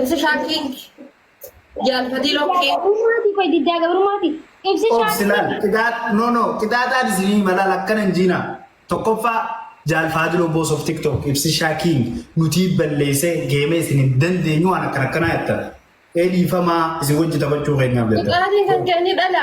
Ibsi shaakkii jaal fadiiloo kee Gabrummaati qoy diddaa gabrummaati. Ibsi Of shaakkii. silaan qidaa no no qidaaxaan isinii malaan akkana hin jiinaa. Tokkoffaa jaal faadiloo boos of tiktok ibsi shaakiin nutii balleessee geemee isin hin dandeenyu waan akkana akkanaa jettan. Ee dhiifamaa isin wajji taphachuu keenyaaf jettan. Qixaatiin kan kee ni dhala.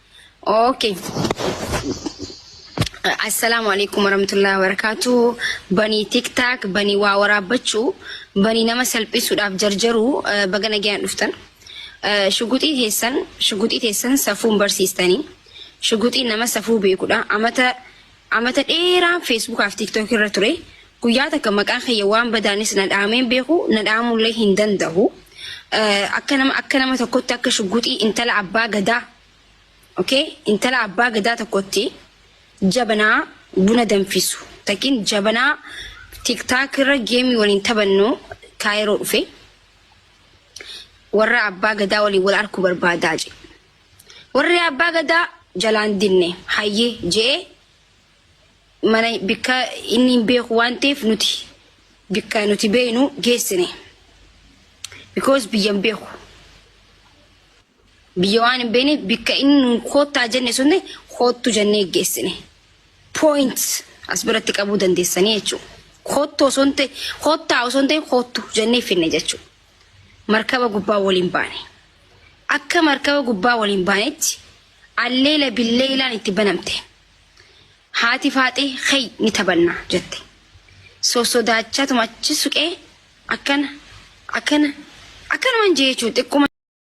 Okay. Assalaamu alaikum warahmatullahi wabarakatuh. Banii TikTok, banii waa waraabbachuu, banii nama salphisuudhaaf jarjaruu eh, baga nagayaan dhuftan. Eh, Shuguxii teessan, shuguxii teessan safuun barsiistanii. Shuguxiin nama safuu beekudha. Amata Amata dheeraan Facebook fi TikTok irra ture. Guyyaa takka maqaan kiyya waan badaanis na dhaamee hin beeku, na dhaamullee hin danda'u. Akka nama akka nama tokkotti akka shugguxii intala abbaa gadaa okay intala abbaa gadaa tokkotti jabanaa buna danfisu takin jabanaa TikTok irra geemii waliin taphannu kaayiroo dhufe. Warra abbaa gadaa waliin wal arku barbaadaa jedhe. Warri Abbaa Gadaa jalaan dinne hayyee je'ee mana bikka inni hin beeku waan ta'eef nuti bikka nuti beeynu geessine. Because biyya hin beeku. Biyya waan hin beekneef bikka inni nuun koottaa jenne sunne koottu jennee geessine. Point as biratti qabuu dandeessanii jechuudha. Koottu osoo hin ta'e koottaa osoo hin ta'e koottu jennee finne jechuudha. markaba gubbaa waliin baane. Akka markaba gubbaa waliin baanetti alleela billeelaan itti banamte. Haati faaxee kay ni taphanna jette. Sossodaachaa tumachi suqee akkana akkana akkanumaan jee jechuun xiqquma.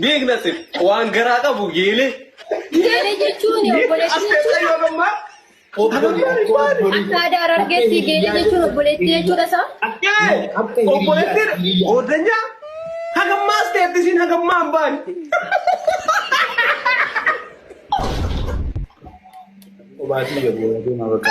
Beekna sin waan garaa qabu geelee. Geelee jechuun obboleettii jechuudha. Akka aadaa Harargeetti geelee jechuun obboleettii jechuudha isaa. Obboleettiin goodanyaa hagammaas ta'etti isin hagammaa hin baane. Obaatii yoo deemaa bakka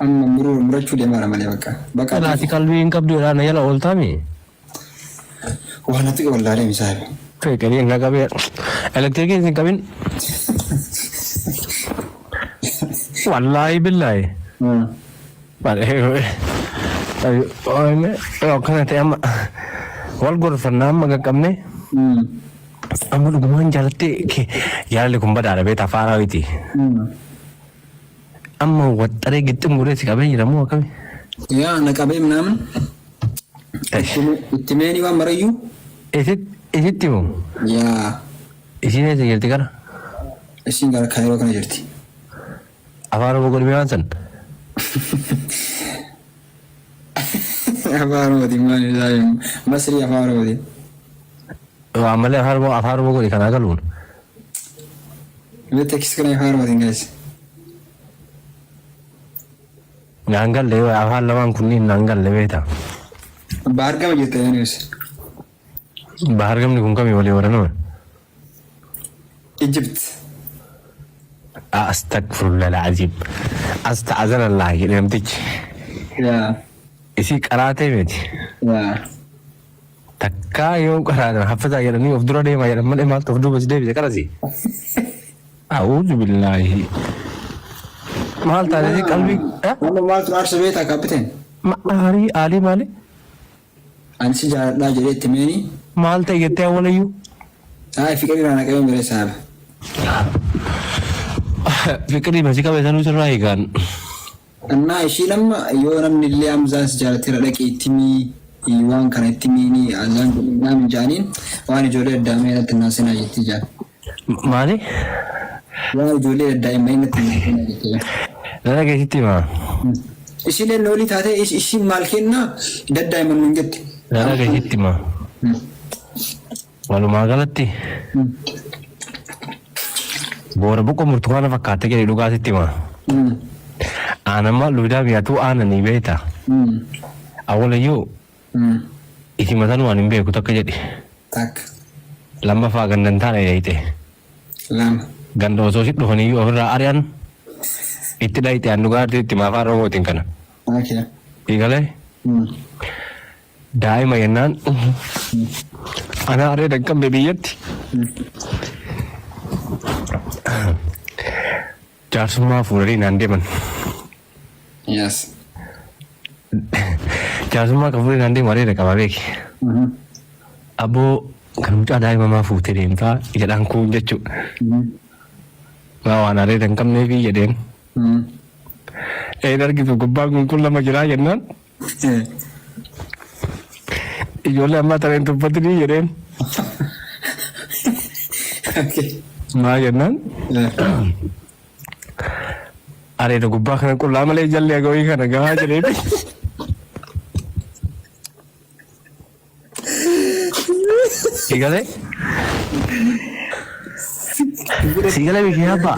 Amma muruu murachuu deemaara malee bakka. Bakka Kana ati qalbii hin qabdu jedhaa na jala ooltaa mi? waa na tuqe wallaalee misaabe. Kee qelee na qabee elektirikiin sin qabin. Wallaahi billaahi. Akkana ta'e amma wal gorfannaa amma qaqqabne amma dhugumaan jaalattee kee jaalalli kun badaadha beektaa faaraa miti. Amma waxxaree gixxim godhee si qabee jira moo akkami? Yaa ana qabee minaamin Esh. itti meeni waan marayyuu Isit isitti moo? yaa Isiin eessa jirti kana? isiin gara kaayiroo kana jirti. Afaan Oromoo godhimee waan san? Afaan Oromootiin maal isaa himma? Masrii Afaan Oromootiin. Yoo ammallee afaan oromoo afaan oromoo godhi kanaa galuun. Mee tekstii kana Afaan Oromootiin gaheessa. Naan galle yoo afaan lamaan kunniin naan galle beekta. Baargama jirta yoo nuus. Bahargamni kun kami walii waranoo. Egypt Astagfirullah alazim asta'azanallah jedhe namtichi yaa isii qaraatee miti yaa takkaa yoo qaraatan haffizaa jedhanii of dura deemaa jedhan malee maaltu of duuba si deebise qarasi a'uuzu billaahi maal taatee qalbii eh? amma maaltu aarsa beektaa kaappiteen ma aarii aalii maali Ani si jaaladhaa jedhee itti meeni. Maal ta'e jettee awwalayyuu? Ayi fiqiri irraa naqabee miree saaba. Fiqiri masi qabe sanuu sirraa higaan. Annaa ishiin amma yoo namni illee Hamzaan si jaalateera dhaqii itti himi waan kana itti himiini Hamzaan kun dhaam hin ja'aniin waan ijoollee addaamee natti hin naasinaa jettii jaan. Maali? Yaa ijoollee daddaa'immanii natti hin hiikinaa jette bar. Dhara kee sitti himaa? Isiileen loolii taatee is- isiin maal kennaa daddaa'imman nuun jette. Dhara kee sitti himaa? Walumaa galatti boora boqqoo burtukaana fakkaattee jedhe dhugaa sitti himaa? Aanammaa luudaa biyyaatu aananii beektaa? Awwalayyuu Umm. Iti matanu an hin beeku takka jedhi. Takka. Lammafaa ganda hin taane dhayxe. Lama. Ganda osoo si dhufaniyyuu ofirraa ari'an itti dhayxe an dhugaa itti hima afaan oromootiin kana. Ok. Sii galee? Umm. Daa'ima jennaan ana areeda hin qabne biyyatti jaarsummaa fuudhanii naan deeman. Yes. Jaarsummaa kan fuudhee naan deemu areeda qaba beeki. Abboo kan mucaa daa'ima maa fuutee deemtaa jedhaan kuun jechuu. Maa waan areeda hin qabneefi jedheen. Een argitu gubbaan kun kun lama jiraa jennaan Ijoollee ammaa tana hin tuffatinii jedheen. Maa jennaan areeda gubbaa kana qullaa malee jalli agawii kana gahaa jedheeti. Si galee? Si galee bikee abbaa?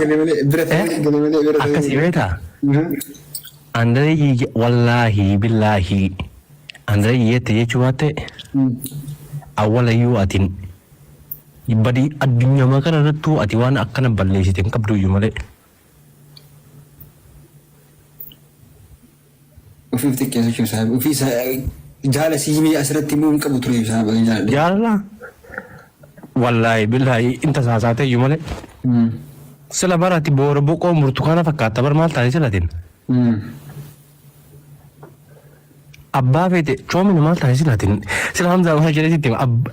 Akkasii beektaa? Andareeyyii wallaahi billaahi andareeyyii jette jechuu baatte awwalayyuu atin badii addunyaa kana irrattuu ati waan akkana balleessite hin qabduyyuu malee. Ofii of xiqqeessu jechuun isaa ofii isaa jaala si himee asirratti immoo hin qabu ture isaa baay'ee jaaladhe. Jaalala wallaahi billaahi in tasaasaatee iyyuu malee Mm. sila barati boora boqoo burtukaana fakkaata bar maal taate silatin Mm. abbaa feete coomina maal taate silatin sila hamzaa waan jedhee sitti hima. Abb-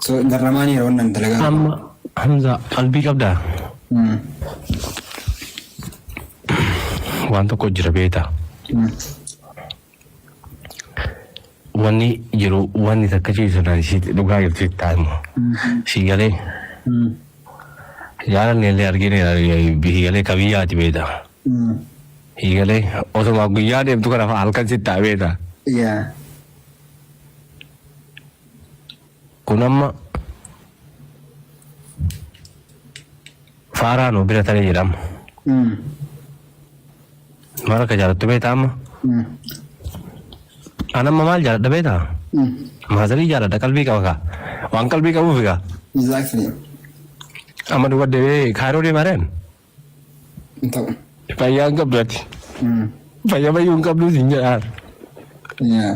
So garramaan yeroo nan dalagaa. Amma Hamza qalbii qabdaa? Mm. Waan tokko jira beektaa? Mm. Wanni jiru wanni takka ciisu na isiit dhugaa jirti taa'imu. Sii galee Mm. jaalanne illee argine sii galee ka biyyaati beektaa? Mm. Sii galee osoma guyyaa deemtu kana fa'a halkan sitti ta'a beektaa? Yeah. Kun amma faaraa nu bira taree jedhama. Maal akka jaalattu beektaa amma? An amma maal jaaladha beektaa? Maazarii jaaladha qalbii qaba kaa. Waan qalbii qabuuf egaa. Exactly. Amma duba deemee kaayiroo deemaa reen? hin ta'u. Fayyaa hin qabdu ati. Fayya fayyuu hin qabdu siin jedhaan. Yaa.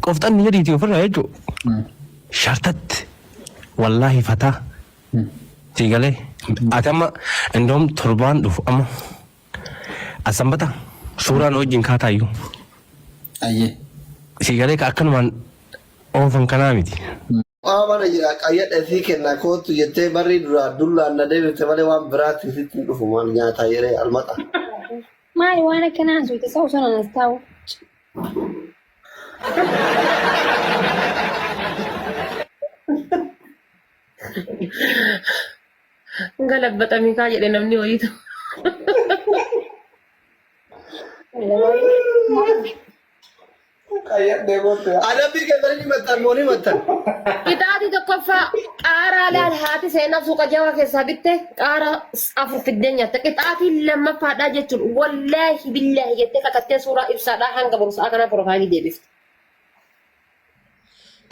Qofxanni jedhiiti ofirraa jechuun. Shartatti. Wallaahi fataa. Sii galee. Ati amma indoom torbaan dhufu amma. Asambata. Suuraan wajjin kaataayyuu. Ayyee. Sii galee ka akkanumaan oofan kanaa miti. Maa mana jiraa qayyadhe sii kennaa koottu jettee barrii duraa dullaan na deebifte malee waan biraatti sitti hin dhufu maal nyaataa yeree almaxaa. Maali waan akkanaa haasofte sa osoo nanas taa'u. Galabbaxamii kaa jedhe namni wayiitu. Maali waan Qayyadhee booddee. Adabbii keessan ni mattan moo ni mattan? Qixaatii tokkoffaa qaaraa laal haati seenaa suuqa jawaa keessaa bitte qaaraa afur fiddee nyaatte. Qixaatiin lammaffaadhaa jechuun wallaahi billaahi jettee kakattee suuraa ibsaadhaa hanga boru sa'a kanaa piroofaayilii deebifte.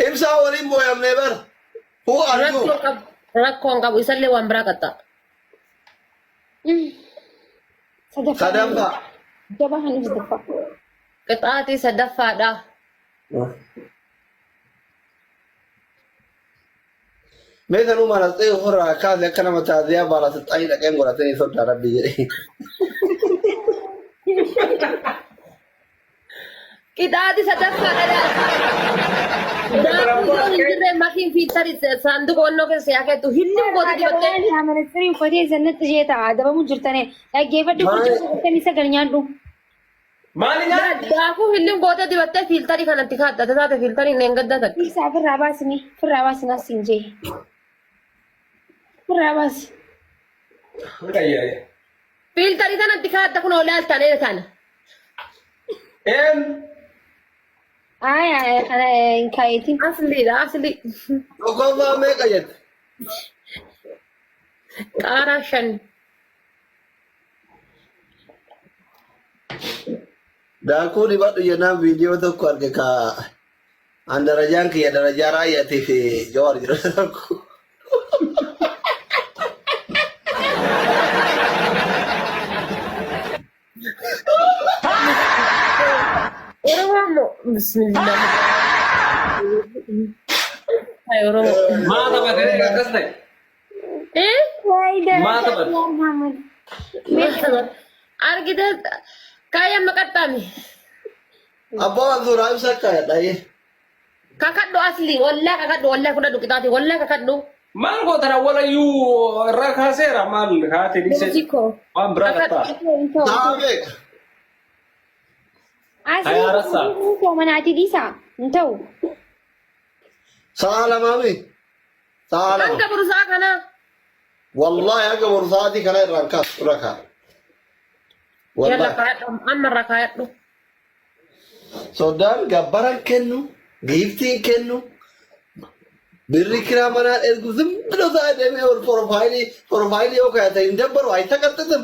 Ibsaa waliin booyamnee bara. Who are you? Rakkoo qabu. Rakkoo hin qabu. Isallee waan biraa qaxxa. Sadaffaa. Jabaa kan ibsitaffa. Qixaaxii sadaffaadhaa. Mee sanuu maal as ta'e ofirraa kaase akka nama taasisaa baala saxxaanii dhaqeen godhatanii sodaa rabbii jedhee. Qixaaxii sadaffaadhaa. Daakuu yoo hin jirre makiin fiiltari saanduqa onnoo keessa yaa keetu hilliin goota dibattee. Adabaan yaa ministirii uffatee sannatti ishee ta'a. Adabamu jirtane. Dhaggeeffadhu Maal- kurchuu sagaltamii sagal nyaadhu. Maali nyaadhu? Daakuu hillin gootee dibattee fiiltarii kanatti kaadda taate fiiltariin dheengaddaa takka. Isaa firraa baasni firraa baasni as hin jee. Firraa baasi. Qayyare. Fiiltarii kanatti kaadda kun oolaa as taanee taana. Een. Ayi ayi kana hin kaayetiin. Asliidha asli. Dhugaa meeqa jette? Qaaraa shan. Daakuu dibadhu jennaan viidiyoo tokko arge ka an darajaan kiyya darajaa raayyatii fi jawaar jira tokko. Oromoo moo bismillah. Ay Oromoo. Maa taphatee akkas ta'e? Argitee kaayaan maqaxxaame. Abbaa waan suuraa ibsaa kaayadha. Kakadhu asli wallaa kakadhu wallaa fudhadhu qixaati wallaa kakadhu. Maal gootan awwalayyuu irraa kaaseera maal haati dhiisee Musikoo. waan biraa qabtaa. Taa beeka. Hayaa rassaa. Asli manaatii dhiisaa hin ta'u. Sa'a lamaami. Sa'a lama. Hanga burusaa kanaa. Wallaahi hanga borsaatii kana irraan kaas irra kaa. Yalla Wallaahi. kaadhu. Amma irra kaadhu. Soddaan gabbaran kennu, giiftiin kennu, birri kiraa manaa ergu zimmi dhosaa deemee ol porofaayilii porofaayilii yoo kaayatan hin dabbaru hayi taqqaxxaxam.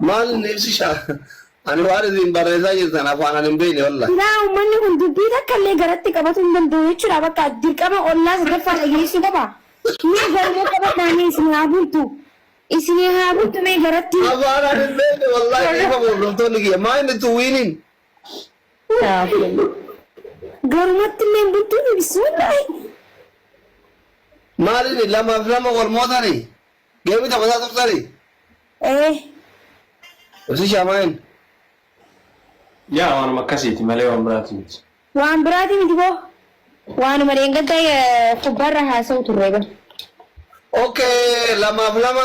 Maal ibsisha? Ani waan isin barreessaa jirtan afaan ani hin beekne wallahi. Silaa uummanni kun dubbii takka illee garatti qabatuu hin danda'u jechuudha bakka dirqama ollaa sadaffaa dhageessuu qaba. Mee garuma qabadhaa mee isin haa bultu. Isin haa bultu mee garatti. Afaan ani hin beekne wallahi dhiifama hordoftoonni kiyya. Maa inni tuwiiniin Garumatti illee hin bultuu fi bismillaahi. Maalini lama fi lama wal mootani geemi taphataa turtani. Ee. Ibsi shaamaayin. Yaa waanuma akkasiiti malee waan biraati miti. Waan biraati miti boo. Waanuma dheengadda kubbaarra haasa'u turre bar. Okay lamaaf lama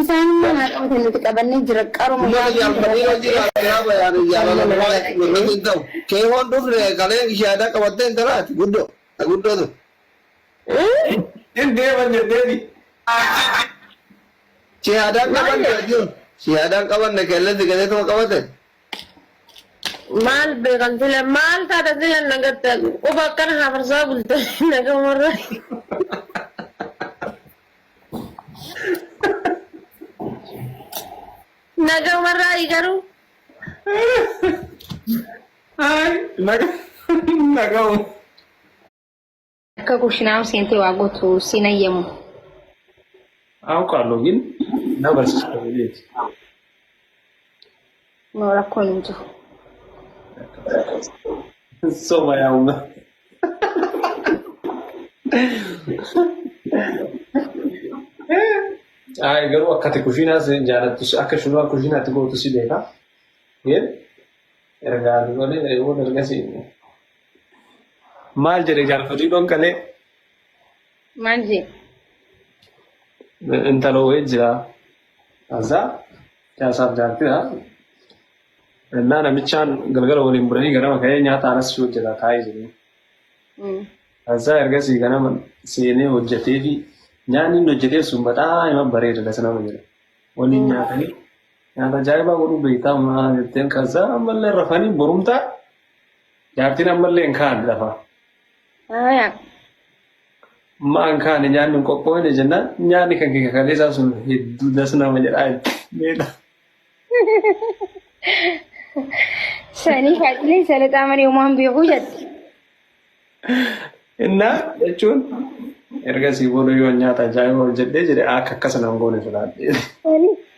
Isaanummaan haa qabatan nuti qabannee jira qaruma Ummata yaadni jaal Fadhiin hojii irraa irraa jiraa bayaane jaalala Nama nama irratti dhaga'ee. hin ta'u. Keehoon dhufne kaleen gishaadaa qabattee hin talaati guddoo. Ta guddoo tun. Hin deeman jetteeti. Shahaadaan Maal qabanne jedha? jechuun shahaadaan qabanne keelleen sigatee tuma qabate. Maal beekan sila maal taata sila nagatta quba akkana hafarsaa bulta nagamarra. Nagaa warraa garuu Ay, naga, naga. akka kushinaa seentee waa gootu siin hayyamu. Aawqaaloo gin na barsiisa. No rakkoon hin jiru. Soba yaa umma. Ay garuu akka ati kushiinaa si jaalattu si- akka shunaa kushiinaatti gootu si beeka. Yeen ergaa nu malee eewoon erga si. Maal jedhe jaarfatii dhonqalee Maal jee? intaloo wayii jira. Azaa caasaaf jaartidha. Innaa namichaan galgala waliin bulanii ganama ka'ee nyaata anas ishee hojjetaa taa'ee jiru. Azaa ergasii ganama seenee hojjetee fi nyaanni inni hojjetee sun bataa ima bareeda dasa nama jedha. Waliin nyaatanii nyaata ajaa'ibaa godhu beektaa maa jetteen kasaa ammallee rafanii borumtaa jaartiin ammallee hin kaa'an lafa. Maan kaane nyaanni hin qophoofne jennaan nyaanni kan kee kaleessaa sun hedduu das nama jedhaa meedha. Sanii faacilee salaxaa malee uumaan beekuu jette. Innaa jechuun erga sii booda yoo nyaata ajaa'ibaa hojjedhee jedhe akka akkasa nan goone filaadhe. Sanii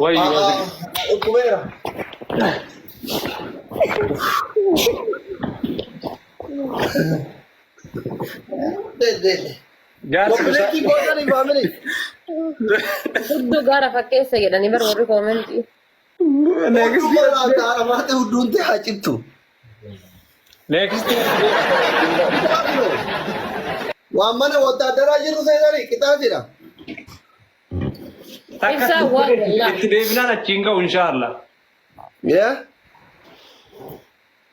Wayyo Aa, yaa dhukkubeera. Deddeedde. jaarsi bisaa Koppileetii gootanii faamilii. Hudduu gaara fakkeessa jedhanii bar warri koomentii. Hudduu qorraa taara maata hudduun ta'e haa cittu. Next. Waan mana wotaaddaraa jiru seenanii qixaa jira. Takka Ibsaa waan walaa. itti deebinaan achiin ka'u inshaallah. Yaa?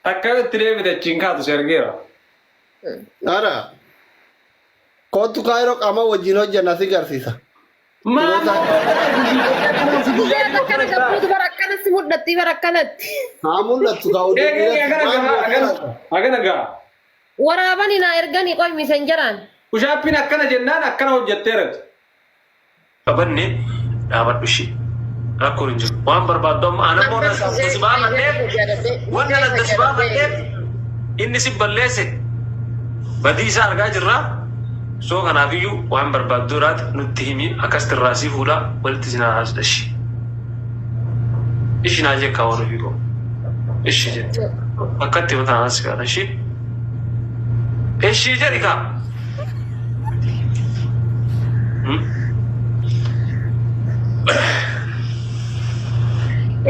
Takka yoo itti deebite achiin kaatu si argeera. Ara. Kootu kaayiroo qaama wajjin hojjanna si garsiisa. Maaloo baay'ee gudii baay'ee kanaan si guyyaa Guyyaa dhiyoo takkana kana gabbuu dubara akkanatti mudhatti bara akkanatti. haa mul'attu kaa oduu Eegee dhiirati agana maal gahaa agana mul'ata? agana gahaa. Waraabani naa ergani qoy misenjaraan. Pushaappiin akkana jennaan akkana hojjetteerati. qabanne dhaabadhu ishee rakkoon hin jiru waan barbaaddu amma ana immoo nan adda si baafadheef wanna adda si baafadheef inni si balleesse badii isaa argaa jirra So kanaafiyyu waan barbaaddu iraat nutti himi akkastti irraa sii fuudha walitti isin araarsa ishi ishi naa jekkaa waan ofii koo ishi jette akkatti yoo tanaan si gaara ishi ishi jedhi kaa Hmm?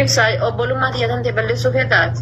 Ibsaa obbolummaa tiyya tantee balleessuu feetaati.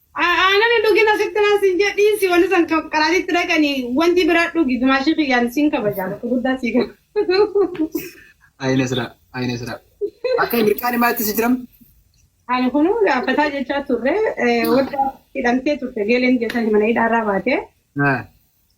Anani dhugi na sitti nan sin jedhe dhiisi wani san qaraatitti dhaqani wanti bira dhugi dumaashii kiyyaan sin kabaja bakka guddaa sii kenna. Ayina sira ayina sira. Akka mirqaan maatti si jiram. Ani kunu gaaffataa jechaa turre wadda hidhamtee turte geeleen jettani mana hidhaarraa baate.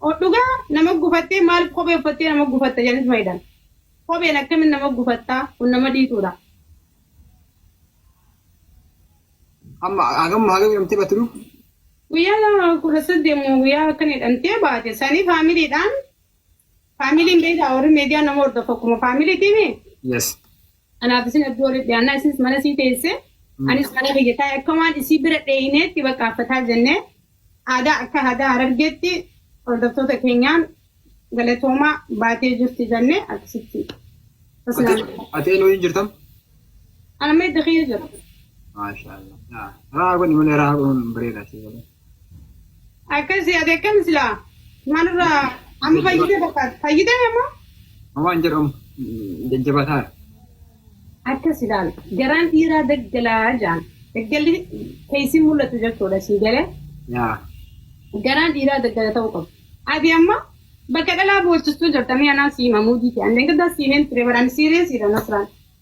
Kun dhugaa nama gufattee maaliif kophee uffattee nama gufatta jedhaniis ma hidhan. Kopheen akkamitti nama gufatta kun nama dhiituudha. Amma hagam hagam hidhamtee baate lubu? Guyyaa 18 moo guyyaa akkan hidhamtee baate sanii faamiliidhaan faamiliin beektaa warri meediyaa nama hordofu akkuma faamiliitiimi. Yes. Anaaf isin hedduu walitti dhiyaannaa isinis mana isii teessee anis mana kiyya taa'e akka waan isii bira dheeyneetti bakka affataa jennee aadaa akka aadaa harargeetti hordoftoota keenyaan galatoomaa baatee jirti jennee akkasitti tasnaan Atee nuyi hin jirtam? ana meedda kiyya jira. Maashaallah. Raa godhi malee raa godhuun bareeda si godhe. Akkasi ati akkam silaa maalirraa amma fayyite fakkaata fayyite amma Waan jedhu amma jajjabataa. akkas ilaal garaan dhiiraa daggalaa jaan daggalli keessi mul'atu jechuudha sii galee Yaa. garaan dhiiraa daggala ta'uu qabu. Ati amma bakka dhalaa boochistuu jirta mi'a naan siima muudii ta'e. Andeen gaddaa siimeen ture baraan siireesiidha nasraan.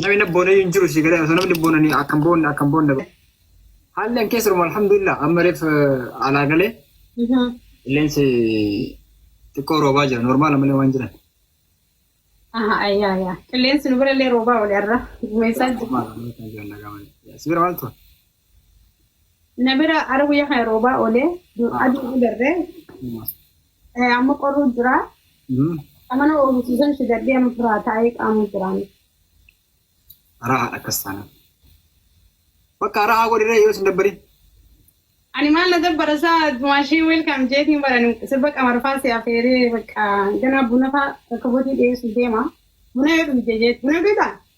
Namni na boonee hin jiru si galee osoo namni boonanii akkan boonne akkan boonne. Haalli an keessa jiru alhamdulillah amma reef alaa galee qilleensi xiqqoo roobaa jira normaala malee waan jiran. Aha ayyaa ayyaa. Qilleensi nu birallee roobaa wali arra. Gumeessaa jira. Si bira maaltu? na bira ara guyyaa kana roobaa oole aduun agarre Eh, amma qorruu jira amana oofisiisan fidadhee amma firaa taa'ee qaamuu jiraan Araa haadha akkas taana. Bakka araa haa godhiree yoo isin dabbariin. ani maal na dabbara isaa maashee welkaam jeetiin baran sirba qamarfaa si afeeree bakka ganaa bunafaa rakkabotii dhiyeessu deema buna yoo dhugde jeet buna dhugda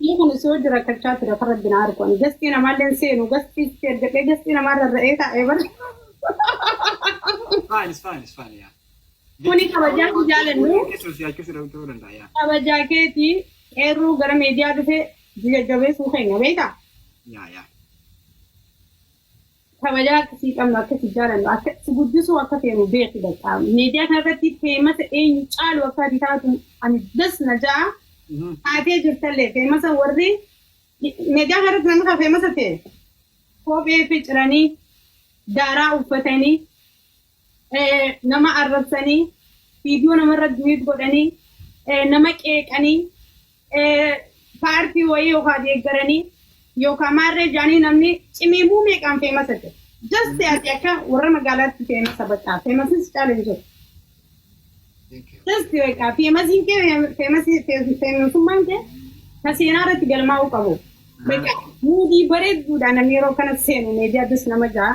Inni kun osoo hojii rakkachaa ture kan rabbi na argu ani gastii namaallee hin seenu gastii itti ergadhee gastii namaa rarra'ee taa'ee bara. Fine, it's fine, it's fine, yeah. Kuni kabajaa si jaalannu. Keessa si yaachuu si dhabu ta'uu danda'a, yeah. Kabajaa keetii eerruu gara miidiyaa dhufee jajjabeessuu keenya beektaa? Yeah, yeah. kabajaa akka sii qabnu akka si jaalannu akka si guddisuu akka feenu beeki bakka miidiyaa kana irratti feemasa eenyu caalu akka ati taatu ani das na ja'a taatee jirtallee feemasa warri miidiyaa kana irratti namni kan feemasa ta'e kophee ficiranii daaraa uffatanii nama arrabsanii, viidiyoo namarra duwiit godhanii, nama qeeqanii, paartii wayii yookaan deeggaranii yookaan maarree jaanii namni cimiimuu meeqaan feemasa jira. Just ati akka warra magaalaatti feemasa baqaa feemasis caala hin jiru. Just baqaa feemasiin kee feemasii feemasummaan kee ka seenaa irratti galmaa'uu qabu. Baqaa muudii bareedduudhaan namni yeroo kana seenu meediyaa dus nama ja'a.